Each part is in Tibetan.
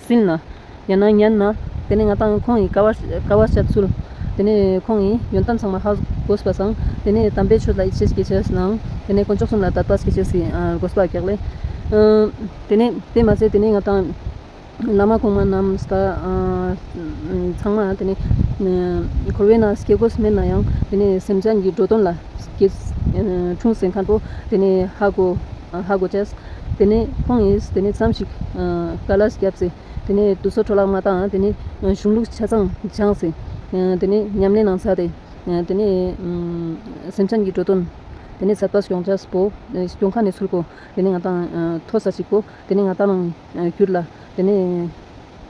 སྲིད་ན། ཡང་ན་ཉན་ན། དེ་ནས་ང་དང་ཁོང་གིས་ཀ་བ་ཀ་བ་ཤར་ཚུལ། དེ་ནས་ཁོང་གིས་ཡོན་ཏན་ཚང་མ་ཧ་གོ་སི་པ་བཟང། དེ་ནས་དམ་པའི་ཆོས་ལ་ཡིད་ཆེས་ཀྱིས་བྱས་གནང། དེ་ནས་དཀོན་མཆོག་གསུམ་ལ་དད་པ་ཞིག་བྱས་སྲིད་གོ་སི་པ་གེགས་ལས། དེ་ནས་དེ་མ་ཟད་དེ་ནས་ང་དང། བླ་མ་གོང་མ་རྣམས་ཀ་ཚང་མ་དེ་ནས། འཁོར་བའི་ནང་སྐྱེ་དགུ་སྨིན་ན་ཡང་དེ་ནས་སེམས་ཅན་གྱི་འགྲོ་དོན་ལ། འཁྲུངས་ཟིན་མཁན་པོ་དེ་ནས་ཧ་གོ་ཧ་གོ་བྱས། དེ་ནས་ཁོང་ངས་དེ་ནས་མཚམས་ཤིག་ཀ་ལཱས་བརྒྱབ་ཚེ། དེ་ནས་དུས་ཚོད་འཕྲོ་བརླག་མ་གཏང། དེ་ནས་གཞུང་ལུགས་ཆ་ཚང་སྦྱངས་ཚེ། དེ་ནས་ཉམས་ལེན་གནང་ཚར་ཏེ། དེ་ནས་སེམས་ཅན་གྱི་འགྲོ་དོན། དེ་ནས་ཟབ་པ་སྐྱོང་བྱ་སྤོ། སྐྱོང་ཁ་ནས་ཚུར་བསྐོ། དེ་ནས་ང་དང་མཐོ་ས་ཅིག་བསྐོ། དེ་ནས་ང་ལྟ་ལོང་གྱུར་ལ། དེ་ནས།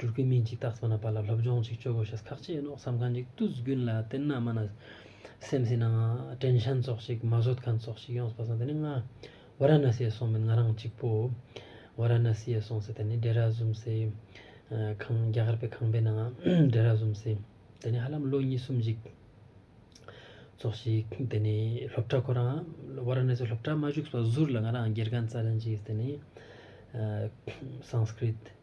སྒྱུར་གྱི་མིན་ཅིག་རྟགས་ཚང་ན་པ་ལ་སློབ་སྦྱོང་ཅིག་སྤྱོད་དགོས་ཤག་ཁག་ཅེས་མནོ་བསམ་གང་ཅིག་བཏུད་རྒྱུན་ལ་བརྟེན་ན་མ་ན་སེམས་སེ་ན་ཀྲན་ཤན་སྩོགས་ཤིག་མ་བཟོད་ཁན་སྩོགས་ཤིག་ཡོངས་སུ་པ་སངས་དེ་ནི་ང་བ་ར་ན་སེ་སོང་མིན་ང་རང་གཅིག་པོ་བ་ར་ན་སེ་སོང་སེ་དེ་ནི་འདྲེ་ར་བཟུམ་སེ་ཁང་རྒྱ་གར་པའི་ཁང་པའི་ནང་འདྲེ་ར་བཟུམ་སེ་དེ་ནི་ཧ་ལམ་ལོ་གཉིས་གསུམ་ཅིག་སྩོགས་ཤིག་དེ་ནི་སློབ་གྲྭ་ཁོ་རང་བ་ར་ན་སེ་སློབ་གྲྭ་མ་བཞུགས་སོ་ཟུར་ལ་ང་རང་སྒེར་གང་རྩ་ལེན་ཅིག་དེ་ནི་སངས་སྐྲིད།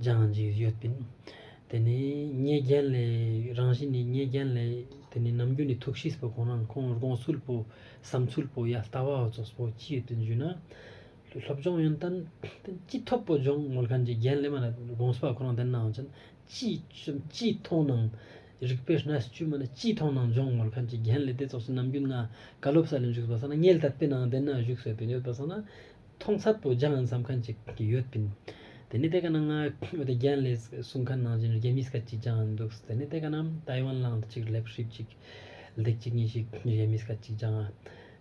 སྦྱང་གི་ཡོད་པས་དེ་ནི་ཉེས་རྒྱན་ལས་རང་བཞིན་ནི་ཉེས་རྒྱན་ལས་དེ་ནི་ནམ་རྒྱུན་ནི་ཐུགས་ཤིས་པའི་གོང་ན་ཁོང་དགོངས་ཚུལ་བོས་བསམ་ཚུལ་བོས་ཡང་ལྟ་བ་རྫོགས་པོ་སྐྱེས་དུ་འཇུག་ན་སློབ་སྦྱོང་ཡོན་ཏན་ཅི་ཐོབ་བོ་སྦྱོང་ངོར་གན་རྒྱའི་རྒྱན་ལས་མ་ལ་དགོངས་ཚུལ་བ་ཁོ་རང་བདེན་ནའང་ཅན་ཅི་བྱུང་ཅི་མཐོང་སྣང་རིག་པའི་སྣ་བཅུད་མ་ལ་ཅི་མཐོང་སྣང་སྦྱོང་ངོར་གན་རྒྱའི་རྒྱན་ལས་དེ་རྫོགས་ཚུལ་ནམ་རྒྱུན་ང་བཀའ་སློབ་ས་ལ་འཇུག་པ་ས་ན་ངེད་ལྟ་བས་ནང་བདེན་ན་བཞུགས་ཟོས་པས་ཡོད་པ་ས་ན་མཐོང་ཚད་དུ་ལྗང་ཟམ་ཁ་ཅིག་ཡོད་པིན། དེ་ནི་དེ་ག་ནང་ཨོ་ཏི་རྒྱན་ལས་གསུང་ཁ་ནང་བཞིན་རྒྱ་མིས་ཁ་ཅིག་ལྗང་འདུག་དེ་ནི་དེ་ག་ནང་ཏའེ་ཝན་ལང་ཏི་ཅིག་ལེབ་ཧྲིབ་ཅིག་ལྡེག་ཅིག་ཉིན་ཞིག་རྒྱ་མིས་ཁ་ཅིག་ལྗང་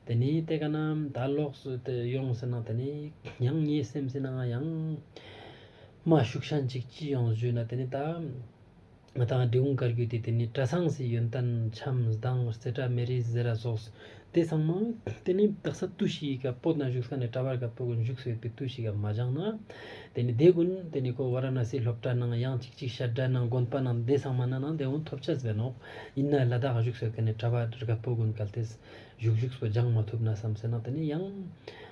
དེ་ནི་དེ་ག་ནང་ད་ལོག་སུ་དེ་ཡོང་ཟེར་ན་དེ་ནི་ཡང་ངའི་སེམས་སེ་ནང་ཡང་མ་ཞུགས་ཤ་འཇིག་ཅི་ཡོང་བཞུས་ན་དེ་ནི་ད། མི་དང་འབྲི་གུང་དཀར་རྒྱུད་དེ་དེ་ནས་བཀྲ་ཚང་སྲིད་ཡོན་ཏན་འཆམ་སྡང་རྩེ་བྲག་མེ་རི་གཟི་ར་སོགས་སུ་དེ་ཚང་མ་དེ་ནས་བདག་ས་ཏུ་ཤི་ཡི་ག་པོ་ན་བཞུགས་ས་ནས་བཀྲ་བར་ག་པོ་གི་མཇུག་སོས་པའི་ཏུ་ཤི་ག་མ་བྱང་ན་དེ་ནས་དེ་ཀུན་དེ་ནས་ཁོ་བ་ར་ན་སིའི་སློབ་གྲྭ་ནང་ཡང་ཅིག་ཅིག་ཤར་གྲྭ་ནང་དགོན་པ་ནང་དེ་ཚང་མ་ན་ནང་དེ་འོང་ཐོབ་ཆ་ཟེ་ནོག་ཡིན་ན་ལ་དྭགས་བཞུགས་སོས་དེ་ནས་བཀྲ་བར་ག་པོ་དགོན་གལ་ཏེ་བཞུགས་བཞུགས་སོ་སྦྱང་མ་ཐུབ་ན་བསམ་སེ་ན་དེ་ནས་ཡང།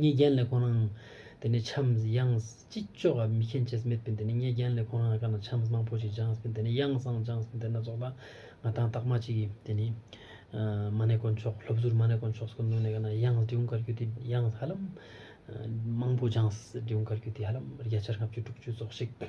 ཉེས་རྒྱན་ལས་ཁོ་རང་དེ་ནས་འཆམས་དབྱངས་ཅི་ལྕོགས་ཀ་མི་མཁྱེན་ཅེས་སྨྲས་པས་དེ་ནས་ཉེས་རྒྱན་ལས་ཁོ་རང་ཀ་ན་འཆམས་མང་པོ་ཞིག་སྦྱངས་པས་དེ་ནས་དབྱངས་བཟང་སྦྱངས་པས་དེ་ན་རྫོགས་ལ་ང་དང་རྟགས་མ་ཅིག་གིས་དེ་ནས་མ་ཎི་དཀོན་མཆོག་སློབ་ཟུར་མ་ཎི་དཀོན་མཆོག་སྐུ་མདུན་ནས་ཀ་ན་དབྱངས་སྒྲེའུ་འགར་རྒྱུད་སྡེ་དབྱངས་ཧ་ལམ་མང་པོ་སྦྱངས་སྒྲེའུ་འགར་རྒྱུད་སྡེ་ཧ་ལམ་བརྒྱ་ཆར་ལྔ་བཅུ་དྲུག་ཅུ་རྫོགས་ཤིག།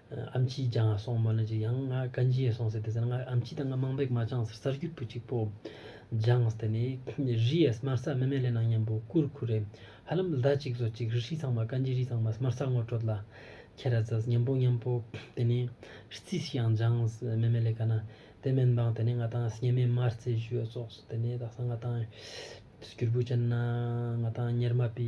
ཨ་མཆིས་ཀྱང་ང་སོང་མོད་ན་ཅིག་ཡང་ང་ག་འགྱིས་སོང་ཟེར་དེ་ཟེར་ན་ང་ཨ་མཆིས་དང་ང་དམངས་འབེག་མ་བཅངས་ཟེར་གསར་འགྱུར་བུ་གཅིག་པོ་སྦྱངས་དེ་ནས་རི་ཡས་སྨར་ས་མི་མེད་ལས་ནང་སྙམ་པོ་ཀུར་ཁུ་རེད་ཧ་ལམ་ཟླ་གཅིག་བཟོ་གཅིག་རི་ཧྲིལ་ཚང་མ་ག་འགྱིས་རི་ཚང་མ་སྨར་ས་ངོ་སྤྲོད་ལ་ཁྱེར་ར་ཟེར་སྙམ་པོ་སྙམ་པོ་དེ་ནས་རྩིས་ཤིག་ཡང་སྦྱངས་མི་མེད་ལས་ག་ན་དེ་མིན་པང་དེ་ནས་ང་དང་སྙེ་མས་མར་རྩེ་བཞུ་ཡོད་སོགས་སུ་དེ་ནས་དག་ས་ང་དང་སྒྱུར་བུ་ཅན་ན་ང་དང་གཉེར་མ་པི་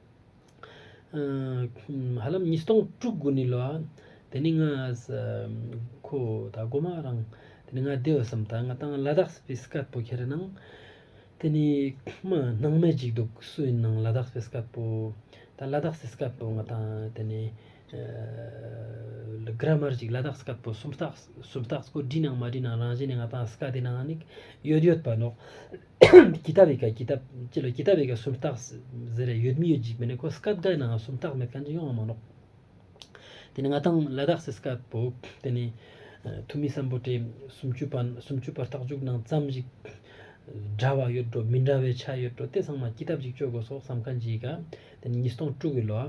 ཧ་ལམ་ཉིས་སྟོང་དྲུག་དགུ་ནི་ལོ་ཨང། དེ་ནི་ང་ཨས་ཁོ་ད་སྒོ་མ་རང། དེ་ནི་ང་ལྡེ་ཨོས་སམ་ད་ང་ཏང་ལ་དྭགས་སྤེ་སི་ཀད་པོ་ཁེ་རེ་ནང། དེ་ནི་མ་སྣང་མེ་ཅིག་འདུག་སུ་ཡིན་ནང་ལ་དྭགས་སྤེ་སི་ཀད་པོ། ད་ལ་དྭགས་སི་སི་ཀད་པོ་ང་ཏང་དེ་ནི། ལ་གྷར་མར་ཅིག་ལ་དྭགས་སི་ཀད་པོ་སུམ་རྟགས་སུམ་རྟགས་སྐོར་བྲིས་ནང་མ་བྲིས་ནང་རང་བཞིན་ནི་ང་ཏང་སི་ཀ་དེ་ནང་ནིག་ཡོད་ཡོད་པ་ནོག། གྱི་ད་བི་ག་གྱི་ད་ཅི་ལ་གྱི་ད་བི་ག་སུམ་རྟགས་ཟེར་རེ་ཡོད་མི་ཡོད་འཇིག་མི་ནི་ཁོ་སྐབས་འགའི་ནའང་སུམ་རྟགས་མེད་ཀ་འདི་ཡོང་བ་མ་ལོག་དེ་ནི་ང་དང་ལ་དྭགས་སེ་སྐབས་བོ་དེ་ནི་ཐུ་མི་བསམ་པོ་དེ་སུམ་ཅུ་པ་སུམ་ཅུ་པ་རྟགས་འཇུག་ནང་ཙམ་ཞིག་འདྲ་བ་ཡོད་འགྲོ་མི་འདྲ་བའི་ཆ་ཡོད་འགྲོ་དེ་ཚང་མ་གྱི་ད་གཅིག་སྤྱོད་དགོས་སོགས་བསམ་ཁ་འཇིག་ག་དེ་ནི་ཉིས་སྟོང་དྲུག་གི་ལོ་ཨ་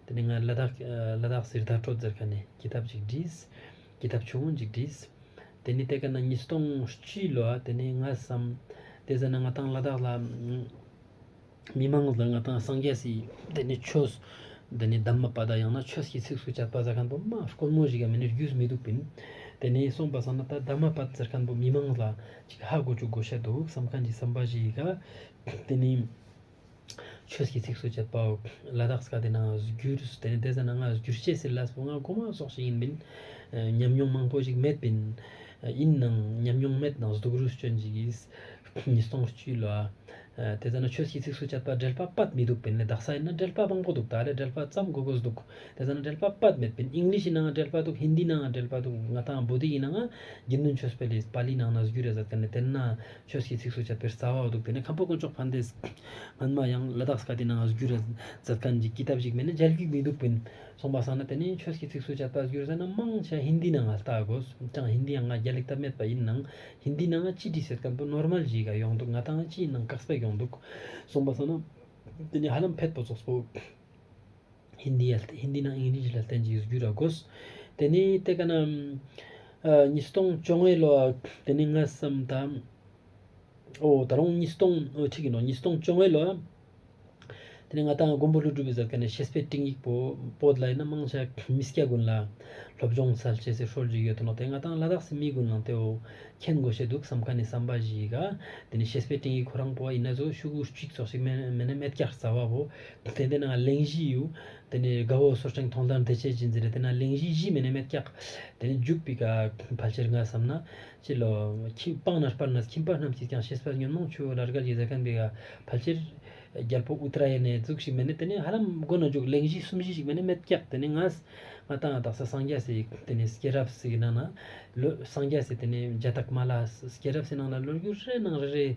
དེ་ནི་ང་ལ་དྭགས་ལ་དྭགས་སེར་དྭགས་གྲོ་ཛེར་ཁ་ནས་གྱི་ད་ཅིག་བྲིས། ཀྱི་ཐབས་བྱུང་འཇིག་བྲིས། དེ་ནི་ཏེ་ཀ་ན་ཉིས་སྟོང་བཅུའི་ལོ་དེ་ནས་ང་བསམ། དེ་ཟེར་ན་ང་དང་ལ་དྭགས་ལ། མི་མང་ལ་ང་དང་སངས་རྒྱས་སི། དེ་ནི་ཆོས། དེ་ནི་གདམས་མ་པ་དང་ཡང་ན་ཆོས་ཀྱི་ཚིགས་སུ་བཅད་པ་ཟེར་མཁན་པོ་མ་ཀོར་མོ་ཞིག་གམ་མི་ནི་རྒྱུས་སུ་མི་འདུག་པིན། དེ་ནས་གསུངས་པ་བསམ་ན་ད་གདམས་མ་པ་ཟེར་མཁན་པོ་མི་མང་ལ་ཅིག་ཧ་གོ་ཅུག་གོ་བཤད་འདུག་བསམ་མཁན་གྱི་བསམ་པ་ཞིག་ག། དེ་ནི། ཆོས་ཀྱི་ཚིགས་སུ་བཅད་པའོ། བླ་དྭགས་ཀ་སྟེ་ནང་ཨ་བསྒྱུར་དེ་ནི་བསྡད་ས་ནང་ཨ་བསྒྱུར་བཤད་ཟེར་ལ་སོ་ལྔ་གོ་མ་སོགས་ཞིག་ཡིན་མིན། ཉམས་མྱོང་མང་པོ་ཞིག་མེད་པིན། ཡིན་ནང་ཉམས་མྱོང་མེད་ནང་གཟུགས་རུས་སྐྱོན་ཅིག་གིས་ཉིས་སྟོང་བཅུ་ལ། དེ་ཙམ་ན་ཆོས་ཀྱི་ཚིགས་སུ་བཅད་པ་འགྲེལ་པ་སྤད་མི་འདུག་པིན་ལས་དྭགས་ས་ཡིན་ན་འགྲེལ་པ་མང་པོ་འདུག་དྭགས་ལས་འགྲེལ་པ་ཙམ་གོ་དགོས་འདུག་དེ་ཙམ་ན་འགྲེལ་པ་སྤད་མེད་པིན་ཨིང་ལིཤ་ནང་འགྲེལ་པ་འདུག་ཧིན་དི་ནང་འགྲེལ་པ་འདུག་ང་དང་བུ་དེ་ཡིན་ནང་ཨ་བསྒྱུར་ནུན་ཆོས་སྤེལ་ལིས་པཱ་ལི་ནང་ཨ་བསྒྱུར་རེད་ཟེར་དེ་ནི་དེ་ན་ཆོས་ཀྱི་ཚིགས་སུ་བཅད་པའི་རྩ་བའོ་འདུག་དེ་ནས་ཁམས་པ་དཀོན་མཆོག་ཕཱན་དེས། སྨན་མ་ཡང་ལ་དྭགས་སི་ཀ་ཏི་ན་ང་གཟུགས་ར་ཛར་ཀན་གྱི་སྐྱིད་ཐབས་ཤིག་མེད་ན་འཇལ་རྒྱུ་མི་འདུག་པས་སོང་པ་བསམ་ན་དེ་ནས་ཆོས་ཀྱི་ཚིགས་སུ་བཅད་པ་གཟུགས་ར་ཛར་ན་མང་ཆེ་བ་ཧིན་དི་ན་ང་ལྟ་དགོས་ཀྱང་ཧིན་དི་ཡང་ང་རྒྱ་ལེགས་ཐབས་མེད་པ་ཡིན་ནང་ཧིན་དི་ན་ང་སྤྱི་དྲི་ཟེར་ཀན་པོ་ནོར་མལ་ཞིག་ག་ཡོང་འདུག་ང་ད་ང་སྤྱིའི་ནང་བཀག་སྤེག་ཡོང་འདུག་སོང་པ་བསམ་ན་དེ་ནས་ཧ་ལམ་ཕེད་པོ་ཙོག་པོ། ཧིནྡི་ཡ། Hindi ནང་ཨིང་ལིག་ལ་བརྟེན་ཅིང་གཟིགས་རྒྱུ་ར་དགོས། དེ་ནི་སྟེ་ག་ན། ཉིས་སྟོང་བཅོ་ལྔའི་ལོ། དེ་ནི་སྔ་བསམ་ད། ཨོ། ད་རུང་ཉིས་སྟོང། ཨོ་ཁྲིག་གི་ནོར་ཉིས་སྟོང་བཅོ་ལྔའི་ལོ། དེ་ནི་ང་དང་མགོན་པོ་ཀླུ་སྒྲུབ་པའི་གཟབ་ག་ནས་ཤེས་སྤེལ་སྤྲིང་ཡིག་པོ་པོ་ལ་ཡིན་ན་དམངས་ཆ་མི་སྐྱ་དགུན་ལ། སློབ་སྦྱོང་སལ་བྱེད་སའི་ཧྲོལ་གྱི་ཡོད་དོ་ནོ་དེ་ང་དང་ལ་དྭགས་སི་མི་དགུན་ལང་ཏེའོ། མཁྱེན་དགོས་བྱས་འདུག་བསམ་ག་ནས་བསམ་པ་ཞིག་ག། དེ་ནི་ཤེས་སྤེལ་སྤྲིང་ཡིག་ཁོ་རང་པོ་བ་ཡིན་ན་ཚོ་ཤུག་གུ་གཅིག་ཚོགས་ཤིག་མེད་ན་མེད་ཀྱག་རྩ་བ་བོ། དེ་དེ་ན་གླིང་བཞི་ཡོད། དེ་ནས་དགའ་བོ་སོར་ཕྲེང་ཐོག་མདངས་དེ་ཆས་ཀྱིས་འཛིན། དེ་ན་གླིང་བཞི་བཞི་མེད་ན་མེད་སྐྱག། དེ་ནས་འཇུག་པའི་ཕལ་ཆེར་ང་བསམ་ན། ཅི་ལོ། སྤང་ན་སྤར་ན་ཁྱིམ་པ་རྣམས་ཀྱིས་ཀྱང་ཤེས་སྤར་ཉོན་མོངས་ཆུ་བོ་ལ་རྒལ་གྱིས་ཟེར་གན་པའི་ཕལ་ཆེར། རྒྱལ་པོ་ཨུ་ཏི་ར་ཡེ་ནས་གཙུག་ཞིག་མེད་ན་དེ་ནས་ཧ་ལམ་དགོན་ན་འཇུག་གླིང་བཞི་གསུམ་བཞི་ཞིག་མེད་ན་མེད་སྐྱག་དེ་ནས་ང། ང་ད་ང་དག་ས་སངས་རྒྱ་སེ་དེ་ནས་སྐྱེས་རབས་སེ་གི་ནང་ན། ལོ་སངས་རྒྱ་སེ་དེ་ནས་རྒྱ་སྟག་མ་ལ་སྐྱེས་རབས་སེ་ནང་ལ་ལོ་རྒྱུས་རེ་རེ་ནང་རེ་རེ།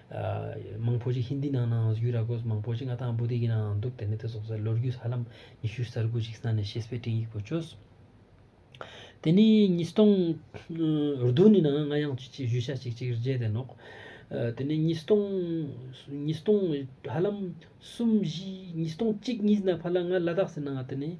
མང་པོ་ཞིག་ཧིནྡི་ནང་ནའང་ཡོད་ར་གོ་མང་པོ་ཞིག་ང་དང་བུ་དེ་གི་ནའང་འདུག་དེ་ནས་དེ་སོགས་ལོ་རྒྱུས་ཧ་ལམ་ཉི་ཤུ་གསར་དགུ་ཞིག་ས་ནས་ཤེས་སྤེལ་དྲིན་ཡིག་པོ་བཅོས། དེ་ནས་ཉིས་སྟོང་བདུན་ནི་ནའང་ང་ཡང་ཅི་ཅིག་བཞུད་ཤ་ཅིག་ཅིག་རྗེས་དེད་ནོག་དེ་ནས་ཉིས་སྟོང་ཉིས་སྟོང་ཧ་ལམ་གསུམ་བཞི་ཉིས་སྟོང་གཅིག་གཉིས་ནས་ཕར་ལ་ང་ལ་དྭགས་སི་ནའང་དེ་ནས་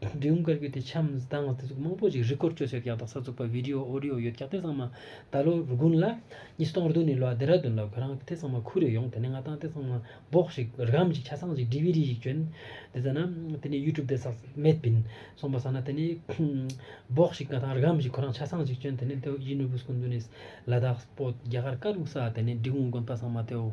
འབྲི་གུང་དཀར་ཁུལ་དེ་ཆའམ་དང་བ་དེ་ཚོ་མང་པོ་ཞིག་རི་སྐོར་སྤྱོད་སའི་གཡག་དང་ས་ཚུགས་པ་བི་དི་ཡོ་ཨོ་རི་ཡོ་ཡོད་གཡག་དེ་ཚང་མ་ད་ལོ་རུ་དགུན་ལ་ཉི་སྟོང་རུ་དུ་ནས་ལོ་ཨ་དེ་ར་དུན་ལ་ཁོ་རང་དེ་ཚང་མ་ཁུར་རེ་ཡོང་དེ་ནས་ང་དང་དེ་ཚང་མ་འབོག་ཞིག་རི་གམ་ཞིག་ཆ་ཚང་ཞིག་བྲི་བི་རི་ཞིག་གྱོན་དེ་ཚ་ན་དེ་ནས་ཡུ་ཀྲུབ་དེ་ཟག་མེད་བིན་སོང་པ་ཟ་ན་དེ་ནས་འབོག་ཞིག་ང་དང་རི་གམ་ཞིག་ཁོ་རང་ཆ་ཚང་ཞིག་གྱོན་དེ་ནས་དེའུ་ཡི་ནུ་བུ་སྐུ་འདུ་ནས་ལ་དྭགས་སྤོ་རྒྱ་གར་ཀ་རུ་ས་དེ་ནས་འབྲི་གུང་དགོན་པ་ཚང་མ་དེའུ་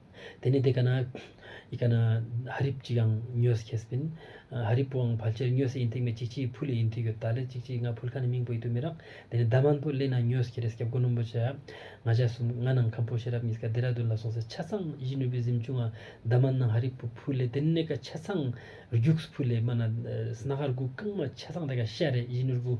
དེ་ནས་དེ་ག་ན་ཡི་ག་ན་ཧ་རིབ་ཅིག་ཨང་མྱོས་སུ་ཁེས་པིན། ཧ་རིབ་པོའང་ཕལ་ཆེར་མྱོས་སུ་ཨིན་ཐིག་མེད་ཅིག་ཅིག་ཕུ་ལེ་ཨིན་ཐིག་ཡོད་ད་ལེ་ཅིག་ཅིག་ང་ཕུལ་ཁ་ནི་མིང་པོ་ཡི་ཏུ་མི་རག་དེ་ནས་ཟླ་མང་པོ་སླེ་ན་མྱོས་སུ་ཁེ་རེས་སྐྱབས་དགོན་ནོམ་པོ་བྱ། ང་ཞག་གསུམ་ང་ནང་ཁམས་པོ་ཤེས་རབ་གཉིས་ཀ་རྡེ་ར་རྡུན་ལ་སོང་ཚེ་ཆ་ཚང་གཞིས་ནུས་པའི་གཟིམ་ཆུང་ཨ་ཟླ་མ་ནང་ཧ་རིབ་པོ་ཕུ་ལེ་དེ་ནས་ཀ་ཆ་ཚང་རྒྱུགས་སུ་ཕུ་ལེ་མ་ན་སྣ་ཁར་སྒུག་རྐང་མ་ཆ་ཚང་དེ་ག་ཤ་རེད་གཞིས་ནུར་བུ།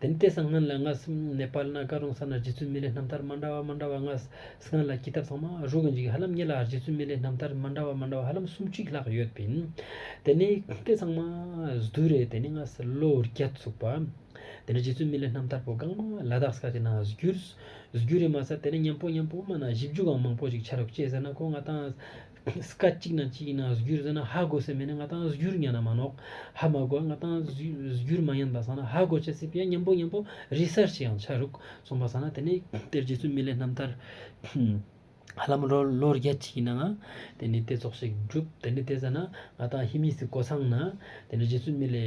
དེ་ནི་དེ་སང་ངན་ལ་ངགས་སིམ་ནེ་པཱལ་ན་ཀ་རོང་ས་ན་རྗེ་བཙུན་མི་ལའི་རྣམ་ཐར་མ་འདྲ་བ་མ་འདྲ་བ་ངགས་སིང་ལ་ཀི་ཐབ་ཚང་མ་རུ་གི་འཇིག་ཧ་ལམ་ཉི་ལ་རྗེ་བཙུན་མི་ལའི་རྣམ་ཐར་མ་འདྲ་བ་མ་འདྲ་བ་ཧ་ལམ་སུམ་གཅིག་ལྷག་ཡོད་པིན། དེ་ནི་དེ་ཚང་མ་བསྡུས་རེད་དེ་ནི་ངགས་སི་ལོ་ཨུར་རྒྱ་བཙུགས་པ། དེ་ནི་རྗེ་བཙུན་མི་ལའི་རྣམ་ཐར་པོ་གང་མ་ལ་དྭགས་ས་ཁ་ཅིག་ན་བསྒྱུར་རེད་མ་ཟད་དེ་ནི་མཉམ་པོ་མཉམ་པོ་མ་ན་བཞི་བཅུ་གང་མང་པོ་ཅིག་ཆ་རུག་ཅེས་ཟེར་ན་ཁོ་ང་དང། སྐད་གཅིག་ན་ཅི་ཡིན་ན་གཟུགས་འགྱུར་ཟེར་ན་ཧ་གོ་སྲིད་མི་ནི་ང་དང་གཟུགས་འགྱུར་ཉན་ན་མ་ནོག་ཧ་མ་གོ་ང་དང་གཟུགས་འགྱུར་མ་ཉན་པ་ཟ་ན་ཧ་གོ་བྱེད་སྲིད་པས་སྙམ་པོ་སྙམ་པོ་རི་གསར་ཞིག་ཡང་ཆགས་རུག་སོང་པ་ཟ་ན་དེ་ནས་དེར་རྗེ་བཙུན་མི་ལའི་རྣམ་ཐར། ཧ་ལམ་ལོ་བརྒྱད་ཅིག་ཡིན་ནའང་དེ་ནས་དེ་ཚོགས་ཞིག་བསྒྲུབས་དེ་ནས་དེ་ཟ་ན་ང་དང་ཧི་མི་སི་གོ་ཚང་ན་དེ་ནས་རྗེ་བཙུན་མི་ལའི།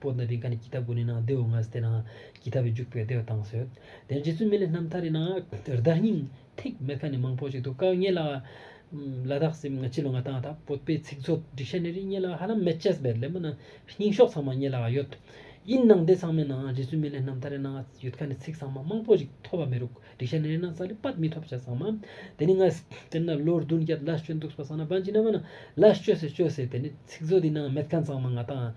པོ་ནི་རི་མཁའ་ནི་ཀྱི་ཐ་གུ་ནི་ནང་བདེ་འོ་ངས་དེ་ནང་ཀྱི་ཐ་བས་འཇུག་པའི་བདེ་བ་དང་ཟོས། དེ་རྗེ་བཙུན་མི་ལས་རྣམ་ཐར་རི་ནང་རི་དྭགས་སྙིང་ཐིག་མེ་ཁ་ནི་མང་པོ་ཅིག་འདུག་ཀ་ངེད་ལ། ལ་དྭགས་སེམས་ང་སྤྱི་ལོ་ང་དང་དང་པོ་པའི་ཚིག་མཛོད་སྒྲིག་ཤ་ནི་རི་ངེད་ལ་ཧ་ལམ་མེད་ཅེས་པའི་ལེབ་མོ་ནི་རྙིང་ཤོག་ཚང་མ་ངེད་ལ་ཡོད། ཡིན་ནང་དེ་ཚང་མའི་ནང་རྗེ་བཙུན་མི་ལས་རྣམ་ཐར་རི་ནང་ཡོད་ཀ་ནི་ཚིག་ཚང་མ་མང་པོ་ཅིག་ཐོ་བ་མེ་རུ་སྒྲིག་ཤ་ནི་རི་ནང་ཙ་ལི་པད་མི་ཐོབ་བྱ་ཚང་མ། དེ་ནི་ངས་དེ་ནི་ལོ་བདུན་བརྒྱད་ལ་སྤྱོད་འདུག་སྤ་སང་ན་བན་གྱི་ན་མ་ནི་ལ་སྤྱོད་སེ་སྤྱོད་སེ་དེ་ནི་ཚིག་མཛོད་འདི་ནང་མེད་མཁན་ཚང་མ་ང་དང།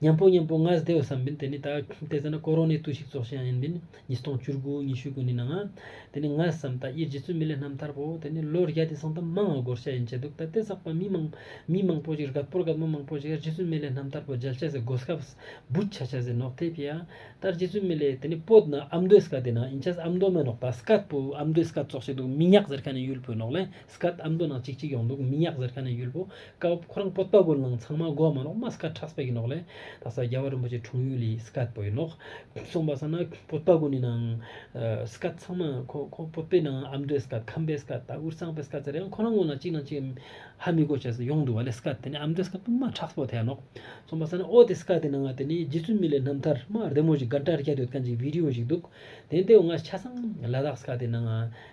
སྙམ་པོ་སྙམ་པོ་ངའི་སྡེ་བའི་བསམ་པའི་དེ་ནི་ད་ལྟའི་ཚེ་ན་ཀོ་རོ་ནའི་བརྟུལ་ཞུགས་བཙོག་ཤིང་ཡང་ཡིན་པས་ཉིས་སྟོང་བཅུར་དགུ་ཉི་ཤུ་དགུ་ནི་ནངས་དེ་ནི་ངའི་བསམ་ད་ཡེ་རྗེ་བཙུན་མི་ལས་རྣམ་ཐར་པོ་དེ་ནི་ལོ་རྒྱ་དེ་སང་ད་མང་བ་སྒོར་ཤ་ཡིན་བྱས་འདུག་ད་ལྟའི་ཟག་པ་མི་མང་མི་མང་པོ་ཞིག་རྒད་པོར་རྒད་མོ་མང་པོ་ཞིག་ཡེ་རྗེ་བཙུན་མི་ལས་རྣམ་ཐར་པོ་མཇལ་བྱ་ཟེར་སྒོ་སྐབས་སྦུད་ཆ་བྱ་ཟེར་ནོག་ཐེ་བྱེད་ཡ་ད་རྗེ་བཙུན་མི་ལས་དེ་ནི་པོད་ན་ཨ་མདོའི་སྐ་དེ་ནང་ཡིན་བྱས་ཨ་མདོ་མེད་ནོག་ད་སྐ་པོ་ཨ་མདོའི་སྐ་བཙོག་བྱས་འདུག་མི་ཉག་ཟེར་མཁན་ནི་ཡུལ་བོད་ནོག་ལས་སྐད་ཨ་མདོ་ནང་ཅིག་ཅིག་ཡོང་འདུག་མི་ཉག་ཟེར་ཁ་ནས་ཡུལ་པོ་སྐལ་བ་ཁོ་རང་པོ་ཏོ་གོ་ནང་ཚང་མ་གོ་མ་ནོག་མ་སྐད་ཁྲག་སྤེལ་གི་ནོག་ལེ་ད་ས་རྒྱ་བ་རིན་པོ་ཆེ་དྲུང་ཡུལ་ལི་སྐད་པོ་ཡི་ནོག་སོང་པ་ས་ན་པོ་ཏོ་གོ་ནི་ནང་སྐད་ཚང་མ་ཁོ་ཁོ་པོ་ཏོའི་ནང་ཨ་མདོའི་སྐད་ཁམས་པའི་སྐད་ད་འུར་ཚང་པའི་སྐད་ཟེར་ཡང་ཁོ་རང་ངོ་ནང་ཅིག་ནང་ཅིག་ཧ་མི་གོ་བྱས་སོ་ཡོང་འདུག་བ་ལེ་སྐད་དེ་ནི་ཨ་མདོའི་སྐད་དུ་མ་ཁྲག་སྤོ་ཐལ་ནོག་སོང་པ་ས་ན་ཨོ་དེ་སྐད་དེ་ནང་ང་དེ་ནི་རྗེ་བཙུན་མི་ལའི་རྣམ་ཐར་མ་བདེ་མོ་ཞིག་དགའ་འདྲ་རྒྱ་དོད་ཀན་ཅིག་བིདེ་ཡོ་ཞིག་འདུག་དེ་འདེའུ་ང་ཆ་ཚང་ལ་དྭགས་སྐད་དེ་ནང་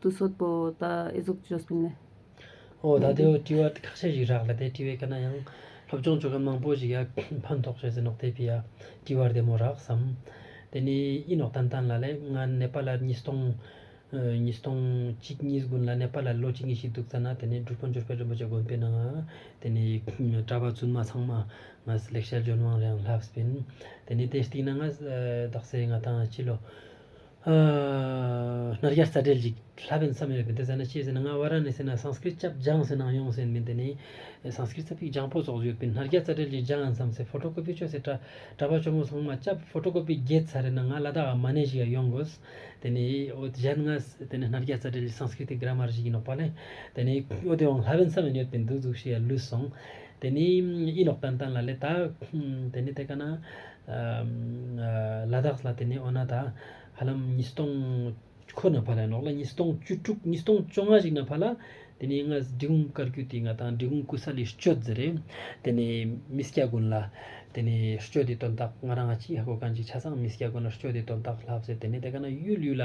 ཏུ་སོག་པོ་དང་ཨེ་ཟོག་ཅོ་སྤུན་ནི། འོ་ད་དེའོ་དྲི་བ་ཁ་ཤས་ཤིག་རག་ལ་དེ་དྲི་བའི་སྐད་ན་ཡང་སློབ་སྦྱོང་བྱོས་མཁན་མང་པོ་ཞིག་ཡག་ཕན་ཐོག་བྱོས་ཟེར་ནོག་དེ་བི་ཡ་དྲི་བར་དེ་མོ་རག་བསམ། དེ་ནི་ཨི་ནོག་ཏན་ཏན་ལ་ལས་ང་ནེ་པ་ལར་ཉིས་སྟོང། ཉིས་སྟོང་གཅིག་གཉིས་དགུ་ལ་ནེ་པ་ལར་ལོ་གཅིག་གཉིས་ཤིག་འདུག་ཙ་ན་དེ་ནི་སྒྲུབ་དཔོན་འཇོར་པད་རིན་པོ་ཆེ་དགོན་པའི་ནང་དེ་ནི་གྲྭ་པ་བཙུན་མ་ཚང་མ་ང་ཟི་ལེགས་ཤལ་ལྗོན་དབང་རེའང་ལྷབ་སྤིན། དེ་ནི་དེ་སྟིག་ན་ང་ཟི་དག་སེ་ང་ཐང་ཕྱི་ལོ། ནཱ་རྒྱ་རྩ་འགྲེལ་གྱི་ལྷ་བན་བསམ་ཡོད་པའི་འདི་ཟེར་ན་ཅི་ཟེར་ན་ང་བཱ་ར་ཎི་སི་ན Sanskrit སྐྱབས་སྦྱངས་སེ་ནང་ཡོང་ཟེར་མི་འདི་ནི Sanskrit ས་ཕིག་ལྗང་པོ་སོགས་ཡོད་པའི་ནཱ་རྒྱ་རྩ་འགྲེལ་གྱི་ལྗང་མཚམས་སེ་ཕོ་ཏོ་ཀོ་པི་ཆོས་སེ་གྲ་པ་ཆོ་མོ་ཚང་མ་སྐྱབས་ཕོ་ཏོ་ཀོ་པི་བརྒྱད་ཚར་རེ་ན་ང་ལ་ད་ག་མ་ནས་ཞིག་ཡ་ཡོང་དགོས་དེ་ནི་ཨོ་དེ་གཞན་ང་དེ་ནི་ནཱ་རྒྱ་རྩ་འགྲེལ་གྱི Sanskrit ཏི Grammar གཞིག་ཡིན་ནོག་པ་ལེ་དེ་ནི་ཨོ་དེ་འོང་ལྷ་བན་བསམ་ཡོད་ཡོད་པའི་འདུག་འདུག་ཞིག་ཡ་ལུས་སོང་དེ་ནི་ཨི་ནོག་ཏན་ཏན་ལ་ལེ་ད་དེ་ནི་དེ་ག་ན་ལ་དྭགས་ལ་དེ་ནས་ཨོ་ན་ད་ཧ་ལམ་ཉིས་སྟོང་ཁོ་ན་བར་ལ་ནོག་ལ་ཉིས་སྟོང་བཅུ་དྲུག་ཉིས་སྟོང་བཅོ་ལྔ་ཞིག་ན་བར་ལ་དེ་ནས་ང་འབྲི་གུང་བཀར་རྒྱུ་དེ་ང་དང་འབྲི་གུང་སྐུ་ས་ལའི་སྤྱོད་ཟེར་རེད་དེ་ནས་མི་སྐྱ་དགོན་ལ་དེ་ནས་སྤྱོད་དེ་དོན་དག་ང་རང་ང་གཅིག་ཧ་གོ་ག་འཇིག་ཆ་ཚང་མི་སྐྱ་དགོན་ལ་སྤྱོད་དེ་དོན་དག་ལབ་ཟེར་དེ་ནས་དེ་ག་ན་གཡུལ་ཡུལ་ལ་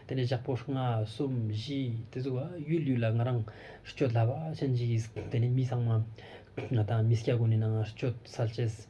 དེ་ནས་ཞག་པོ་ལྔ་གསུམ་བཞི་དེ་ཚོ་བ་གཡུལ་ཡུལ་ལ་ང་རང་སྤྱོད་ལབ་ཨ་ཅེ་འཇིག་དེ་ནས་མི་ཚང་མ་ང་དང་མི་སྐྱ་དགོན་ནས་ནང་སྤྱོད་ས་བྱེད།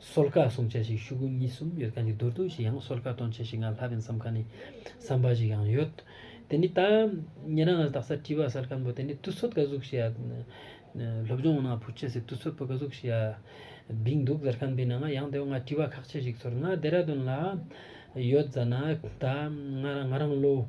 སོལ་ཁ་སོང་ཆ་ཞིག་ཤུག་གུ་གཉིས་གསུམ་ཡོད་མཁན་གྱི་རྡོར་དུང་ཞིག་ཡང་སོལ་ཁ་གཏོང་ཆ་ཞིག་ང་ལྷ་བན་བསམ་ཁ་ནས་བསམ་པ་ཞིག་ཡང་ཡོད། དེ་ནི་ད་ཉེ་རང་ང་དག་སར་བྲིས་པ་སལ་ཁམ་པོ་དེ་ནི་དུ་ཚོད་ག་ཟུག་ཤི་ཡ། སློབ་སྦྱོང་ནང་བུ་ཁྱེད་ཚོས་དུ་ཚོད་པོ་ག་ཟུག་ཤི་ཡ། བིང་འདུག་སལ་ཁམ་པོའི་ནང་ང་ཡང་དེ་བ་ང་བྲིས་པ་ཁག་ཆ་ཞིག་ཚོར་ང་རྡེ་ར་དུན་ལ་ཡོད་ཛ་ན་ད་ང་རང་ལོ།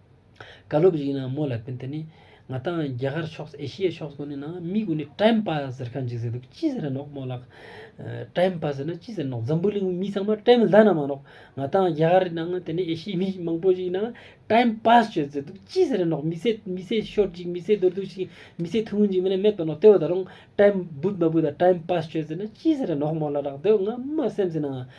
བཀའ་སློབ་ཡིན་ན་མོ་ལ་ཕན་ཐད་ནས། ང་དང་རྒྱ་གར་ཕྱོགས་ཨེ་ཤི་ཡའི་ཕྱོགས་སུ་ནི་ན་མི་དགོས་ནས་བཀྲེན་པ་ཟེར་ཁ་འཇིགས་ཟེར་འདུག་ཅི་ཟེར་ནོག་མོ་ལགས། བཀྲེན་པ་ཟེར་ན་ཅི་ཟེར་ནོག་འཛམ་བུ་གླིང་བའི་མི་ཚང་མ་བཀྲེན་མི་ཟ་ན་མ་གནོག་ང་དང་རྒྱ་གར་ནང་དེ་ནས་ཨེ་ཤི་ཡའི་མི་མང་པོ་ཞིག་ན་བཀྲེན་པ་ཞོད་ཟེར་འདུག་ཅི་ཟེར་ནོག་མི་ཚེ་མི་ཚེ་ཤོར་ཅིག་མི་ཚེ་དོར་དུ་ཞིག་མི་ཚེ་ཐུང་ངུ་ཞིག་མིན་ན་མེད་པ་ནོག་ལྟོས་བ་ད་རུང་བཀྲེན་བུ་མ་བུ་དང་བཀྲེན་པ་ཞོད་ཟེར་ན་ཅི་ཟེར་ནོག་མོ་ལ་ལགས་འདོད་ང་མ་སེམས་ཟིན་ན་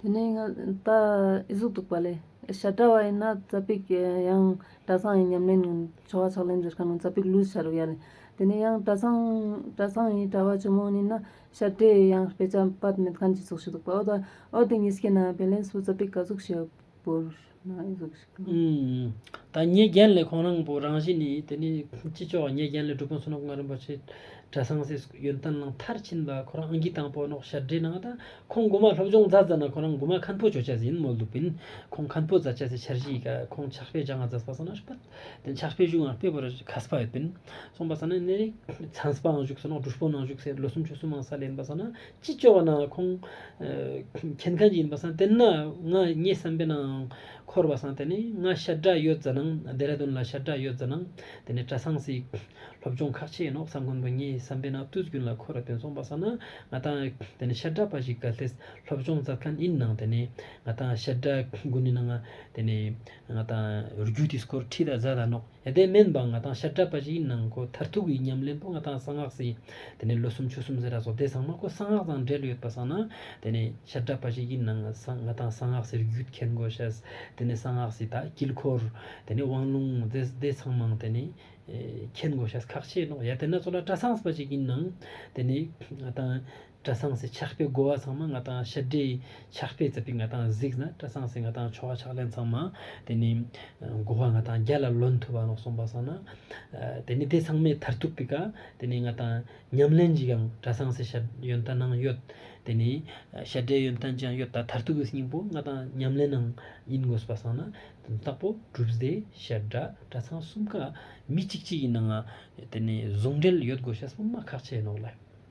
དེ་ནས་ང་ད་ཨི་གཟུགས་གཏུགས་པ་ལས། ཞར་བཀྲ་བ་ཡིན་ན་རྩ་པིག་ཡང་བཀྲ་ཚང་ཡིན་ཉམས་ལེན་ཆོ་ག་ཕྱག་ལེན་འདིར་ཁ་ནང་རྩ་པིག་ལུས་ཕྱར་བ་ཡ་ལས། དེ་ནས་ཡང་བཀྲ་ཚང་བཀྲ་ཚང་ཡིན་བཀྲ་བ་ཆུ་མོ་ཡིན་ན་ཞར་བཀྲས་ཡང་དཔེ་ཆ་སྤར་མེད་གང་གི་གཟུགས་ཞུ་གཏུགས་པ་འོ་ད་འོ་དེ་གཉིས་སྐྱེས་ན་བེ་ལན་སུ་རྩ་པིག་ག་གཟུགས་ཞེས་བོར། ཐ་སྙད་རྒྱན་ལས་གོང་རང་བོ་རང་བཞིན་ནི་དེ་ནི་ཅི་ལྕོགས་སྙད་རྒྱན་ལས་གྲུབ་པོ་སུ་ནོག་ང་རིན་པོ་ཆེ་གྲ་སང་སིས་ཡོན་ཏན་ལང་མཐར་ཕྱིན་པ་ཁོ་རང་ཨང་ཀི་དང་པོ་ནོག་ཞར་འདྲེ་ནང་དང་ཁོང་དགུ་མ་སློབ་སྦྱོང་རྫ་རྫ་ན་ཁོ་རང་དགུ་མ་ཁན་པོ་ཇོ་ཆ་ཟིན་མོ་ལུག་པིན་ཁོང་ཁན་པོ་རྫ་ཆ་སི་ཆར་གཞིས་ཀ་ཁོང་ཕྱག་དཔེ་ལྗང་ང་རྫ་སྤ་སོ་ན་སྤུ་དན་ཕྱག་དཔེ་བཞུགས་ངང་དཔེ་བོར་ཁ་སྤ་ཡོད་པིན་སོང་པ་ས་ན་ནི་རིགས་ཚན་སྤ་ངང་བཞུགས་སོ་ནོག་འབྲུ་སྤོ་ནང་བཞུགས་སའི་ལོ་སུམ་ཅུ་སུམ་མང་ས་ལེན་པ་ས་ན་ཅི་བཅོལ་བ་ན་ཁོང། ཁྱེད་མཁན་གྱི་ཡིན་པ་སང་དེ་ན་ང་ངའི་བསམ་པའི་ནང་འཁོར་བ་སང་དེ་ནི་ང་ཤར་བྲག་ཡོད་ཛི་ནང་རྡེ་ར་དུན་ལ་ཤར་བྲག་ཡོད་ཛི་ནང་དེ་ནི་གྲ་སང་སི་སློབ་སྦྱོང་ཁག་ཆེ་ཡིན་ནོག་སང་མགོན་པོ་ངའི་བསམ་པའི་ནང་ཏུས་རྒྱུན་ལ་འཁོར་བ་དེ་ཚོང་པ་སང་ན་ང་དང་དེ་ནི་ཤར་བྲག་པ་ཞིག་ག་ལྷེ་སློབ་སྦྱོང་མཛད་མཁན་ཡིན་ནང་དེ་ནི་ང་དང་ཤར་བྲག་དགུ་ནི་ནང་དེ་ནི་ང་དང་རྒྱུ་དེ་སྐོར་ཁྲི་དང་བཟའ་དང་ནོག་གནས་བརྟན་མིན་པ་ང་དང་ཤ་བཀྲ་པ་ཞིག་ནང་མཁོ་མཐར་ཐུག་གི་ཉམས་ལེན་པོ་ང་དང་གསང་སྔགས་སེ། དེ་ནས་ལོ་སུམ་ཅུ་སུམ་ཟེར་ར་ཟོ་དེ་ཚང་མ་ཁོ་གསང་སྔགས་དང་འབྲེལ་ཡོད་པ་བསགས་ན། དེ་ནས་ཤ་བཀྲ་པ་ཞིག་གི་ནང་ང་དང་གསང་སྔགས་སེར་བརྒྱུད་འཁྱེར་མགོ་བྱས། དེ་ནས་གསང་སྔགས་སེ་དག་དཀྱིལ་འཁོར། དེ་ནས་དབང་ལུང་རྫས་སྡེ་ཚང་མང་དེ་ནས། འཁྱེར་མགོ་བྱས་ཁག་ཆེ་ནོག་ཡ་དེ་ན་ཚོ་ལ་བཀྲ་ཚང་ཟེར་པ་ཞིག་གི་ནང། དེ་ནས་ང་དང། བཀྲ་སངས་སེ་ཕྱག་དཔེ་བགོ་བ་ཚང་མ་ང་དང་ཕྱི་དགྲའི་ཕྱག་དཔེ་རྩིབ་པའི་ང་དང་གཟིགས་ན་བཀྲ་སངས་སེ་ང་དང་ཆོ་ག་ཕྱག་ལེན་ཚང་མ་དེ་ནི་བགོ་བ་ང་དང་རྒྱ་ལ་ལོན་ཐུབ་བ་ལོག་སོང་བ་སོང་ན་དེ་ནི་དེ་ཚང་མའི་མཐར་ཐུག་པི་ཀ་དེ་ནི་ང་དང་ཉམས་ལེན་གྱི་ཡང་བཀྲ་སངས་སེ་ཤ་ཡོན་ཏན་ནང་ཡོད་དེ་ནི་ཤ་དགྲའི་ཡོན་ཏན་ཅང་ཡོད་ད་མཐར་ཐུག་གི་སྙིང་པོ་ང་དང་ཉམས་ལེན་ནང་ཡིན་དགོས་པ་སོང་ན་དེ་དག་པོ་གྲུབ་རྫས་ཤ་དགྲ་བཀྲ་སངས་གསུམ་ཀ་མི་གཅིག་གཅིག་གི་ནང་དེ་ནི་ཟུང་འབྲེལ་ཡོད་དགོས་ཤ་སོང་ན་ཁག་ཆེ་ནོག་ལ།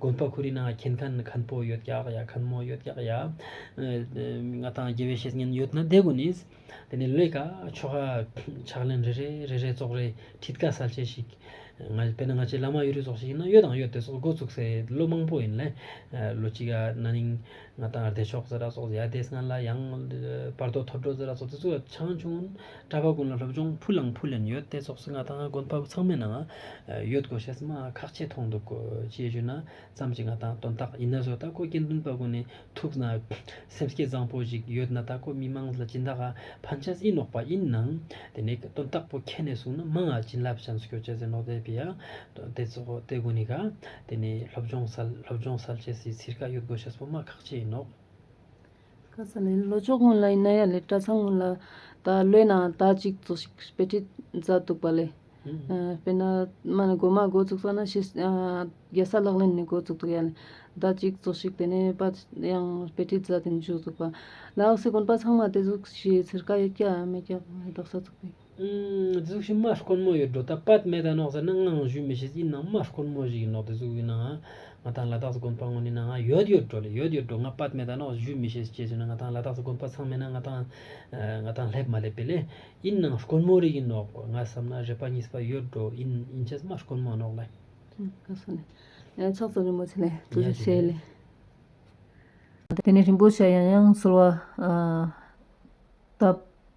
དགོན་པ་ཁུ་རི་ནང་མཁྱེན་ཁན་མཁན་པོ་ཡོད་ཀྱག་ཡ་མཁན་མོ་ཡོད་ཀྱག་ཡ། ང་དང་དགེ་བའི་བཤེས་གཉེན་ཡོད་ན་བསྡད་དགོས་ནིས། དེ་ནས་ལས་ཀ་ཆོ་ག་ཕྱག་ལེན་རེ་རེ་རེ་རེ་ཙོག་རེ་ཁྲིད་ཀ་གསལ་བྱེད་ཞིག། དཔེར་ན་ང་ཆེ་བླ་མ་ཡུལ་རི་ཟོག་ཞིག་ཡིན་ན་གཡོ་དང་གཡོ་དེ་སོགས་འགོ་ཚུགས་སའི་བློ་མང་པོ་ཡིན། ལོ་གཅིག་ན་ནིང། ང་དང་བདེ་མཆོག་ཙི་ར་སོགས་ཡ་དེ་སྔོན་ལ་ཡང་བར་དོ་ཐོབ་འགྲོ་ཙི་ར་སོགས་དེ་ཚོ་ཆང་ཆུང་གྲྭ་པ་ཀུན་ལ་སློབ་སྦྱོང་ཕུ་ལང་ཕུ་ལེན་ཡོད་དེ་སོགས་སུ་ང་དང་དགོན་པ་ཚང་མའི་ནང་ཡོད་དགོས་ཞེས་སྨྲ་བ་ཁག་ཅིག་མཐོང་འདུག་ཅེས་བརྗོད་ན་ཙམ་གྱིས་ང་དང་དོན་དག་ཡིན་ན་བཟོད་ད་ཁོ་དགེ་འདུན་པ་ཀུན་ནས་ཐུགས་ན་སེམས་སྐྱེད་བཟང་པོ་ཞིག་ཡོད་ན་ད་ཁོ་མི་མང་ལ་སྦྱིན་བདག་ག་ཕན་ཆད་ཨི་ནོག་པ་ཡིན་ནམ་དེ་ནས་དོན་དག་པོ་ཁྱེད་ནས་གསུངས་ན་མང་ང་བྱིན་རླབས་ཅན་སྐྱོ་ཅན་ཟེར་ནོག་དེ་བི་ཡ་དེ་ཚོ་དེ་དགོན་ནི་ག་དེ་ནི་སློབ་སྦྱོང་གསལ་སློབ་སྦྱོང་གསལ་བྱེད་སའི་ཚིར་ཁ་གཡུག་དགོས་ཤ་སྤུ་མ་ཁག་ཅི་ཡིན་ནོ། ཁ་ས་ལའི་ལོ་ཅོག་སྔོན་ལ་ཡིན་ན་ཡ་ལེ་གྲྭ་ཚང་སྔོན་ལ་ད་ལོའི་ནང་ཟླ་གཅིག་བཙོ་ཞིག་དཔེ་ཁྲིད་མཛད་འདུག་པ་ལས། དཔེར་ན་མ་ནི་སྒོ་མ་འགོ་བཙུགས་ས་ན་ཕྱི་རྒྱལ་ས་ལག་ལེན་ནས་འགོ་བཙུགས་འདུག་ཡ་ལེ་ཟླ་གཅིག་བཙོ་ཞིག་དེ་ནས་པ་ཡང་དཔེ་ཁྲིད་མཛད་དེ་འཇུག་འདུག་པ། ལ་འོག་སའི་དགོན་པ་ཚང་མ་དེ་གཟུགས་ཀྱི་ཚིར་ཁ་ཡོད་ཀྱ་མེད་ཀྱ་རྟོགས་ས་ཚུགས་པའི། གཟུགས་ཕྱི་མ་དཀོན་མོ་ཡོད་འགྲོ་ད་པད་མའི་དང་ནག་ཟེར་ན་ང་ངང་བཞུ་མི་ཤེས་ཡིན་ནང་མ་དཀོན་མོ་ཞིག་ཡིན་ནོག་དེ་གཟུགས་ཡིན་ནའང་ང་ཐང་ལ་དྭགས་སུ་དགོན་པ་དངོས་ནི་ནང་ང་ཡོད་ཡོད་འགྲོ་ལེ་ཡོད་ཡོད་འགྲོ་ང་པད་མའི་དང་ནག་བཞུ་མི་ཤེས་ཅེས་བྱས་ན་ང་ཐང་ལ་དྭགས་སུ་དགོན་པ་ཚང་མེད་ན་ང་ཐང་ང་ཐང་སླེབས་མ་སླེབས་པས་ལན་ཡིན་ནང་དཀོན་མོ་རིག་ཡིན་ནོག་ང་བསམ་ན་རེ་པ་གཉིས་པ་ཡོད་འགྲོ་ཡིན་ཡིན་ཆེས་མ་དཀོན་མོ་ནོག་ལེ། ཁ་སང་ནས་ཡང་ཕྱག་བཙལ་རིན་པོ་ཆེ་ལས་དུ་རུ་ཤེས་ལེ། དེ་ནས་རིན་པོ་ཆེ་ཡང་ཡང་གསོལ་བ་བཏབ།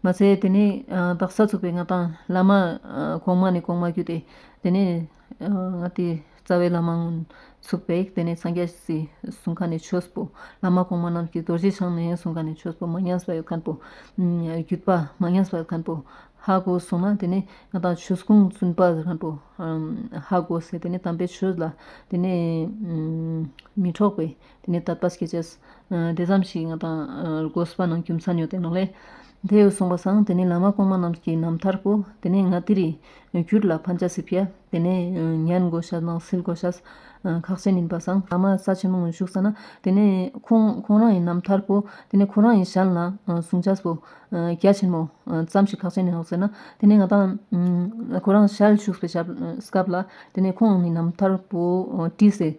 མ་ཚད་དེ་ནས་སྦྲག་སྲ་ཚུགས་པའི་ང་དང་བླ་མ། གོང་མ་ནས་གོང་མ་བརྒྱུད་དེ། དེ་ནས་ང་དེ་རྩ་བའི་བླ་མ་ཚུགས་པས་དེ་ནས་འཚང་རྒྱ་སི་གསུང་ཁ་ནས་ཆོས་སྤོ། བླ་མ་གོང་མ་རྣམས་ཀྱིས་རྡོ་རྗེ་འཆང་ནས་གསུང་ཁ་ནས་ཆོས་སྤོ་མ་ཉམས་སུ་བ་ཁན་སྤོ། བརྒྱུད་པ་མ་ཉམས་སུ་བ་ཁན་སྤོ། ཧ་གོ་གསུང་ན་དེ་ནས་ང་དང་ཆོས་སྐུ་བཙུན་པ་ཁན་སྤོ། ཧ་གོ་ཟེར་དེ་ནས་དམ་པའི་ཆོས་ལ་དེ་ནས་མི་འཕྲོགས་པའི། དེ་ནས་ད་པཱས་ཀྱི་རྗེས་འདི་ཙམ་ཞིག་ང་དང་རྒོད་སྤ་ནང་རྒྱུ་མཚན་ཡོད་དེ་ནོ་ལེ། དེ་ཡོད་གསུངས་པ་སང་དེ་ནས་ལ་མ་གོང་མ་རྣམས་ཀྱི་ནམ་ཐར་པོ་དེ་ནས་ང་དེ་རིང་གུར་ལ་ཕ་འཇའ་སི་བྷི་ཡ་དེ་ནས་ཉན་དགོས་ཤ་ནང་སིལ་དགོས་ཤ་ཁག་ཅན་ཡིན་པ་སང་ལ་མ་ས་ཆེན་མོ་ངོས་བཞུགས་ས་ན་དེ་ནས་ཁོང་ཁོང་རང་ཡིན་ནམ་ཐར་པོ་དེ་ནས་ཁོང་རང་ཡིན་ཞལ་ན་ཟུང་འཇའ་སི་བྷི་ཡ་ཆེན་མོ་ཙམ་ཞིག་ཁག་ཅན་ཡིན་ལགས་ཟེར་ན་དེ་ནས་ང་དང་ཁོ་རང་ཞལ་བཞུགས་པའི་སྐབས་ལ་དེ་ནས་ཁོང་ནི་ནམ་ཐར་པོ་བཀྲིས་ཟེར།